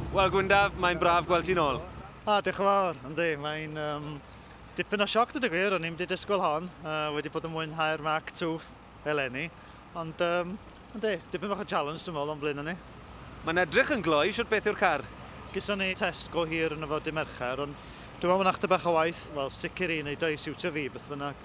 Wel Gwyndaf, mae'n braf gweld ti'n ôl. Ah, diolch yn fawr. Yndi, mae'n um, dipyn o sioc dod y gwir, o'n i'n wedi disgwyl hon, uh, wedi bod yn mwynhau'r Mac Tooth eleni, ond um, yndi, dipyn bach o challenge dwi'n meddwl o'n blaen ni. Mae'n edrych yn gloi, siwt beth yw'r car? Gyson ni test go hir yn y fod i Mercher, ond dwi'n meddwl mae'n achta bach o waith, wel sicr i wneud o'i siwtio fi, beth bynnag.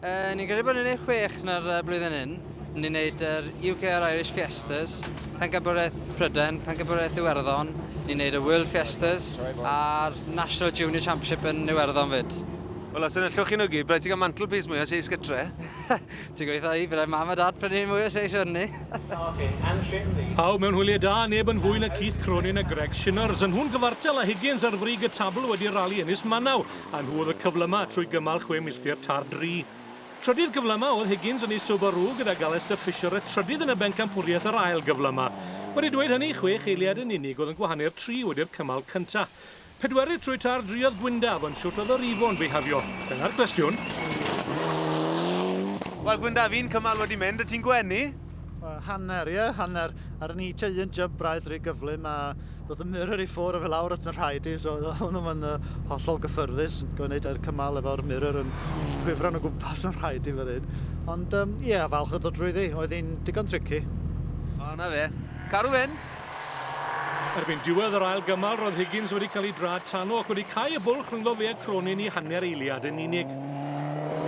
Yy, ni'n credu bod ni'n ei chwech na'r uh, blwyddyn hyn. Ni'n gwneud yr uh, UK a'r Irish Fiestas, Pencampwriaeth Pryden, Pencampwriaeth Iwerddon, ni'n gwneud y World Fiestas a'r National Junior Championship yn Iwerddon fyd. Wel, os yna llwch chi'n ygu, bryd ti'n cael mantle piece mwy o seis gytre. ti'n gweithio i, byddai mam a dad prynu ni mwy o seis o'n ni. Pawb mewn hwyliau da, neb yn fwy na Keith Cronin a Greg Shinners, yn nhw'n gyfartal a Higgins ar frig y tabl wedi rali Ynys Manaw. A nhw oedd y cyflymau trwy gymal chwe milltir tar dri. Trydydd cyflymau oedd Higgins yn ei Subaru gyda Galester Fisher y trydydd yn y bencampwriaeth yr ail gyflymau. Wedi dweud hynny, chwech eiliad yn unig oedd yn gwahanu'r tri wedi'r cymal cyntaf. Pedwerydd trwy tar dri oedd Gwyndaf, ond shwt oedd yr Ifo'n bihafio? Dyna'r cwestiwn. Wel Gwyndaf, un cymal wedi mynd, y ti'n gwenu? Wel, hanner, ie, hanner. Ar ni te un jump braidd rhy gyflym a doedd y mirror i ffwr o fe lawr at y rhaid i, so oedd hwnnw yn uh, hollol gyffyrddus, gwneud e'r cymal efo'r mirror yn chwifran o gwmpas yn rhaid i fan hyn. Ond, ie, um, yeah, falch o ddod drwyddi, oedd hi'n digon tricky. O, na fe. Carw fynd! Erbyn diwedd yr ail gymal, roedd Higgins wedi cael ei draed tano ac wedi cau y bwlch rhyngddo fe a Cronin i hanner eiliad yn unig.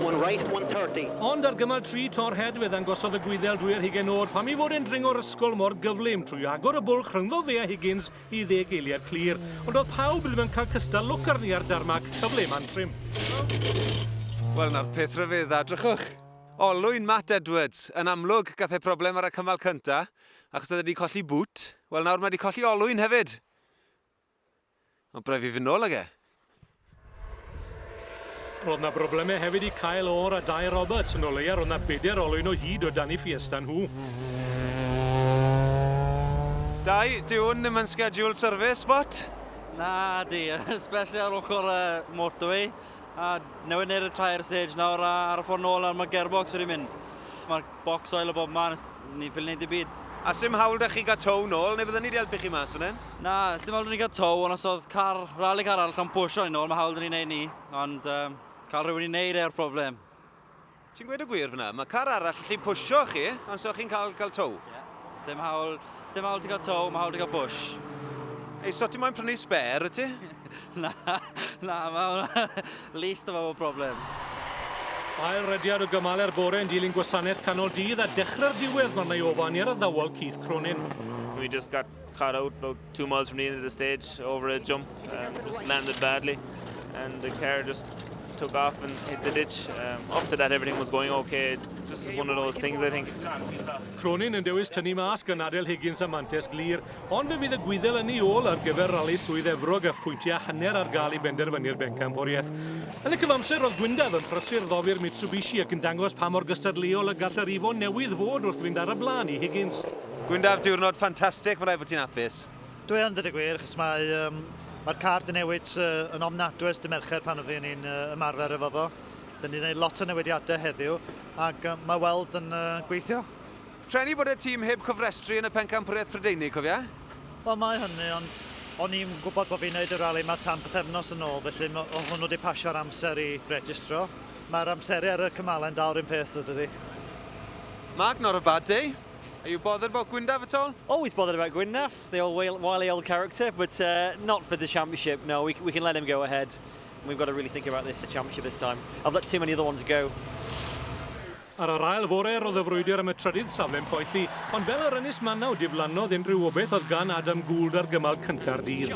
One right, one thirty. Ond ar gymal tri Tor Head fe ddangosodd y Gwyddel drwy'r hugain o'r pam ei fod e'n dringo'r ysgol mor gyflym trwy agor y bwlch rhyngddo fe a Higgins i ddeg eiliad clir. Ond oedd pawb ddim yn cael cystal lwc arni ar darmac, cyfle Mantrim. Wel, 'na'r peth rhyfedda, drychwch. Olwyn Matt Edwards, yn amlwg, gath e problem ar y cymal cynta, Achos oedd e 'di colli bŵt. Wel nawr mae 'di colli olwyn hefyd. Ond braidd fi fy nôl ag e. Roedd na broblemau hefyd i cael o'r a Dai Roberts, yn o leia roedd na bedair olwyn o hyd o dan i Fiesta nhw. Dai, dyw hwn ddim yn scheduled service, what? Na, di, especially ar ochr y motorway. A newid neu'r y tair stage nawr a ar y ffordd nôl ar mae gearbox wedi mynd. Mae'r Bocs oil o bob man os ni'n ffili neud dim byd. A sdim hawl da chi gael tow nôl, neu bydden ni di helpu chi mas fan hyn? Na, sdim hawl da ni gael tow, ond os oedd car, rali car arall am pwysio ni nôl, mae hawl da ni neud ni, ond um, cael rhywun i neud e'r problem. Ti'n gweud y gwir fyna, mae car arall allu pwysio chi, ond so chi'n cael, cael tow? Yeah. Sdim hawl, sdim hawl ti gael tow, mae hawl ti gael push. Ei, so ti moyn prynu spare, y ti? na, na, mae hwnna least of our problems. Ail rediad o gymal er bore yn dilyn gwasanaeth canol dydd a dechrau'r diwedd mae'r neu ofan i'r addawol Keith Cronin. We just got Car out about two miles from the end of the stage, over a jump, um, just landed badly, and the car just took off and hit the ditch. Um, after that, everything was going okay. Just one of those things, I think. Cronin yn dewis tynnu mas gan Adel Higgins a Mantes Glir, ond fe fydd y gwyddel yn ei ôl ar gyfer rali Swydd Efrog a phwyntiau hanner ar gael i benderfynu'r bencampwriaeth. Yn y cyfamser, roedd Gwyndaf yn prysur ddofir Mitsubishi ac yn dangos pa mor gystadleuol y gall yr ifon newydd fod wrth fynd ar y blaen i Higgins. Gwyndaf, diwrnod ffantastig, mae'n rhaid bod ti'n hapus. Dw i yn, dweud y gwir, achos mae, um, mae'r car di newid uh, yn ofnadwy ers dy Mercher pan oeddwn ni'n uh, ymarfer efo fo. Dyn ni'n gwneud lot o newidiadau heddiw, ac uh, mae weld yn uh, gweithio. Treni bod y tîm heb cofrestru yn y pencampwriaeth Prydeinig, cofia? Wel, mae hynny, ond o'n i'n gwybod bod fi'n gwneud y rali yma tan bythefnos yn ôl, felly o hwnnw wedi pasio'r amser i registro. Mae'r amseru ar y cymalen dal rhywun peth, ydy. Mark, not a bad day. Are you bothered about Gwyndaf at all? Always bothered about Gwyndaf, the old wily old character, but uh, not for the championship. No, we, we can let him go ahead. We've got to really think about this championship this time. I've let too many other ones go. Ar yr ail fore, roedd y frwydr am y trydydd safle'n poethi, ond fel yr ynys manaw, diflannodd unrhyw obaith oedd gan Adam Gould ar gymal cynta'r dydd.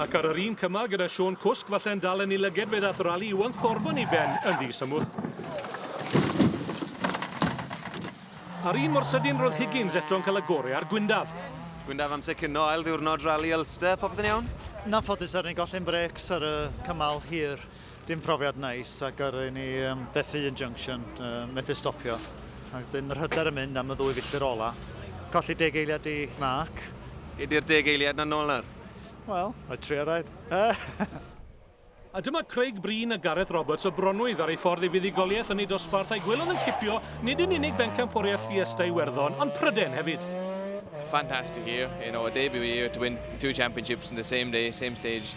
Ac ar yr un cymal gyda Siôn Cwsg falle yn dal yn ei lyged fe ddath rali Iwan Thorburn i ben yn ddi-symwth. A'r un mor sydyn roedd Higgins eto'n cael y gorau ar Gwyndaf. Gwyndaf amser cino ail ddiwrnod rali Ulster, popeth yn iawn? Yn anffodus er ni'n golli'n brêcs ar y cymal hir. Dim profiad neis a gyrru ni um, fethu yn junction, uh, methu stopio. Ac dyn yr hyder yn mynd am y ddwy filltir ola. Colli deg eiliad i Mark. Ydy'r deg eiliad na nôl nawr? Wel, mae tri araid. A dyma Craig Breen a Gareth Roberts o Bronwydd ar ei ffordd i fuddugoliaeth yn ei dosbarth a'i gwelwn yn cipio nid yn unig bencampwriaeth Fiesta Iwerddon, ond Pryden hefyd. Fantastic year, you know, a debut year to win two championships in the same day, same stage.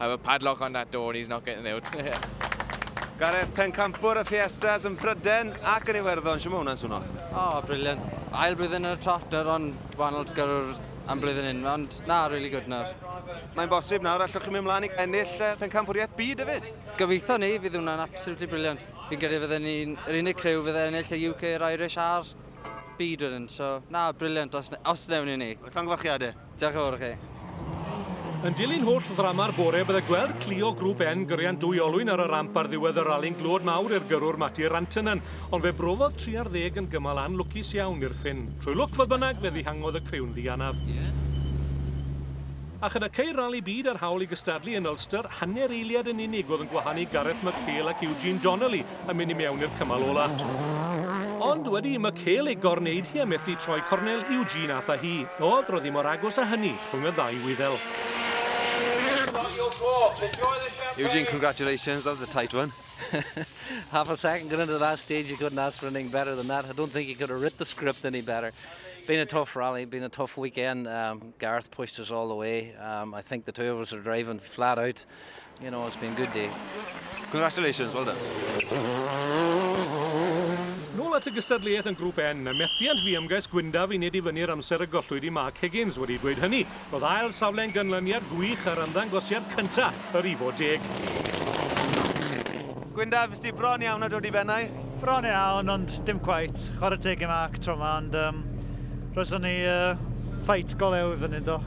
I will padlock on that door and he's not getting out. Gareth, pencampwr y Fiestas yn Bryden ac yn Iwerddon, sy'n mae hwnna'n swno? O, oh, briliant. Ail blwyddyn yn y Trotter, ond wahanol gyrwr am blwyddyn hyn, ond na, really good nawr. Mae'n bosib nawr, allwch chi mynd mlaen i ennill uh, pencampwriaeth byd hefyd? Gobeithio ni, fydd hwnna'n absolutely briliant. Fi'n credu fydden ni'n yr unig crew fydd ennill y UK, yr Irish a'r byd wedyn, so na, briliant os, os newn ni ni. Llongyfarchiadau. Diolch yn fawr i chi. Yn dilyn holl ddrama'r bore, bydde gweld Clio Grŵp E'n gyrian dwy olwyn ar y ramp ar ddiwedd y rali'n glod mawr i'r gyrrwr Matti Rantanen, ond fe brofodd tri ar ddeg yn gymal anlwcus iawn i'r ffin. Trwy lwc, fodd bynnag, fe ddihangodd y criw'n ddianaf. A chyda ceir Rali Byd a'r hawl i gystadlu yn Ulster, hanner eiliad yn unig oedd yn gwahanu Gareth McHale ac Eugene Donnelly yn mynd i mewn i'r cymal ola. Ond wedi i Michael ei gorneud hi a methu troi cornel Eugene ath â hi. Oedd, roedd hi mor agos â hynny, rhwng y ddau Wyddel. Eugene, congratulations, that was a tight one. Half a second going into the last stage, you couldn't ask for anything better than that. I don't think you could have writ the script any better. Been a tough rally, been a tough weekend. Um, Gareth pushed us all the way. Um, I think the two of us are driving flat out. You know, it's been a good day. Congratulations, well done. Nôl at y gystadleuaeth yn Grŵp N, a methiant fu ymgais Gwyndaf i nid i fyny'r amser y gollwyd i Mark Higgins. Wedi dweud hynny, roedd ail safle'n ganlyniad gwych ar ymddangosiad cyntaf yr Ifo Deg. Gwyndaf, fues di bron iawn â dod i bennau. Bron iawn ond dim cweit. Chwarae teg i Mark tro ma ond um, roeddwn ni uh, ffait go lew i fyny do.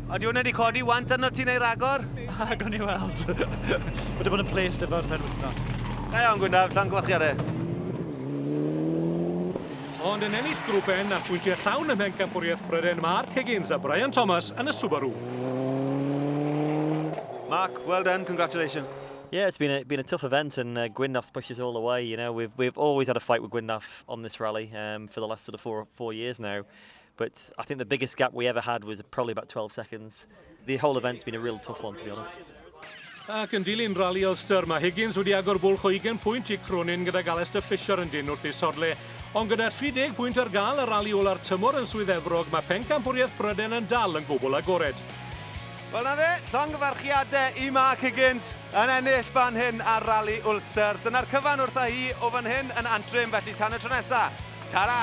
Ydy hwnna wedi codi want arno ti neu ragor? A gwn i weld. Wedi bod yn placed efo'r pen wythnos. Da iawn Gwyndaf, llan gwarchiadau. Ond yn ennill grŵp N a phwyntiau llawn ym mhencampwriaeth Bryden, Mark Higgins a Brian Thomas yn y Subaru. Mark, well done, congratulations. Yeah, it's been a, been a tough event, and uh, Gwynnaff's pushed us all away. You know, we've we've always had a fight with Gwynnaff on this rally um, for the last sort of four four years now. But I think the biggest gap we ever had was probably about 12 seconds. The whole event's been a real tough one, to be honest. Ac yn dilyn rali Ulster, mae Higgins wedi agor bwlch o 20 pwynt i Cronin gyda Galester Fisher yn dyn wrth ei sodle. Ond gyda 30 pwynt ar gael y rali ola'r tymor yn Swydd Efrog, mae pencampwriaeth Pryden yn dal yn gwbl agored. Wel 'na fe, llongyfarchiade i Mark Higgins yn ennill fan hyn ar Rali Ulster. Dyna'r cyfan wrtha hi o fan hyn yn Antrim, felly tan y tro nesa, tara!